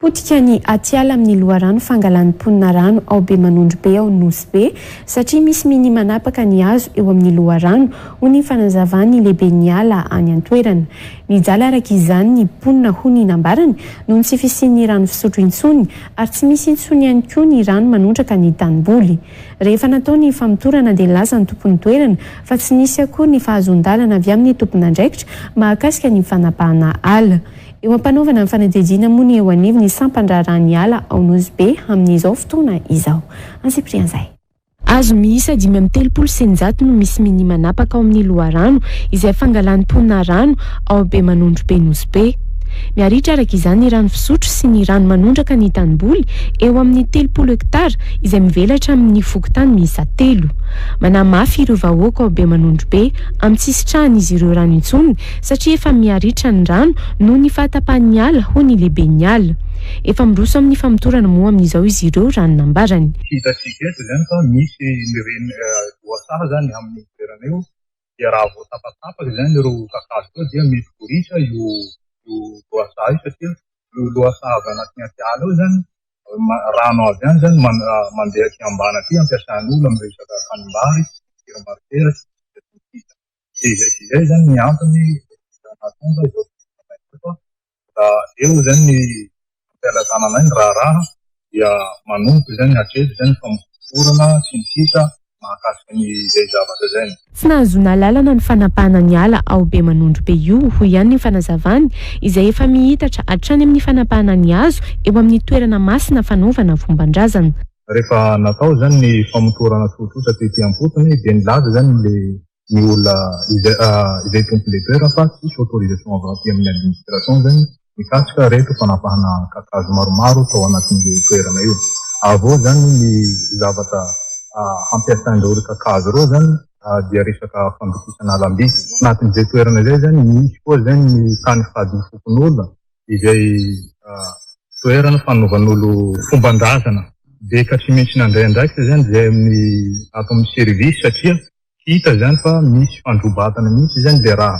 Potika ny atiala amin'ny loharano fangalan'ny mponina rano ao Bemanondro Be ao Nosy Be satria misy mini manapaka ny hazo eo amin'ny loharano, hoy ny fanazavan'ny lehiben'ny ala any an-toerana. Mijaly araka izany ny mponina hoy ny nambarany noho ny tsy fisian'ny rano fisotro intsony ary tsy misy intsony ihany koa ny rano manondraka ny tanimboly. Rehefa natao ny famotorana dia nilaza ny tompon'ny toerana fa tsy nisy akory ny fahazoan-dalana avy amin'ny tompon'andraikitra mahakasika ny fanapahana ala. Eo am-panaovana ny fanadihadiana moa ny eo anivon'ny sampan-draharahan'ny ala ao Nosy Be amin'izao fotoana izao. Antsipiriha an'izay. Hazo miisa dimy amby telopolo sy eninjato no misy minia manapaka ao amin'ny loharano izay fangalany mponina rano ao Bemanondro Be Nosy Be. Miharitra araka izany ny rano fisotro sy ny rano manondraka ny tanimboly eo amin'ny telopolo hektara izay mivelatra amin'ny fokontany miisa telo. Manahy mafy ireo vahoaka ao Bemanondro Be amin'ny tsy hisitrahan'izy ireo rano intsony satria efa miha-ritra ny rano noho ny fahatapahan'ny ala, hoy ny lehiben'ny ala. Efa miroso amin'ny famotorana moa amin'izao izy ireo, raha ny nambarany. Hitantsika eto izany fa misy ny reny lohasaha izany amin'io toerana io, dia raha vao tapatapaka izany ireo kakazo ireo dia mety ho ritra io lohasaha io, satria io lohasaha avy anaty atiala io izany, rano avy any izany mandeha aty ambany aty, ampiasan'ny olona amin'ny resaka tanimbary, fidiram-bariteraka, sy ny sisa sy ny sisa. Dia izay sy izay izany ny antony nahatonga izao fivorianay ireto. Raha eo izay ny fampielezana anay ny raharaha dia manomboka izay ny hatreto izay ny famotorana sy ny sisa mahakasika ny izay zavatra izay. Tsy nahazoana alalana ny fanapahana ny ala ao Bemanondrobe io, hoy ihany ny fanazavany, izay efa mihitatra hatrany amin'ny fanapahana ny hazo eo amin'ny toerana masina fanaovana fomban-drazana. Rehefa natao izany ny famotorana tsotsotra tety am-potony dia nilaza izany ilay ny olona izay tompon' ilay toerana fa tsisy autorisation avy aty amin'ny administration izany mikasika ireto fanapahana kakazo maromaro tao anatin'io toerana io. Avy eo izany ny zavatra hampiasain'ireo ry kakazo ireo izany dia resaka fandokisana alam-by. Anatin'izay toerana izay izany misy koa izay ny tany fadin'ny fokonolona izay toerana fanaovan'olo-fomban-drazana beka tsy maintsy nandray andraikitra izany izay amin'ny ato amin'ny service satria hita izany fa misy fandrobatana mihitsy izany dia raha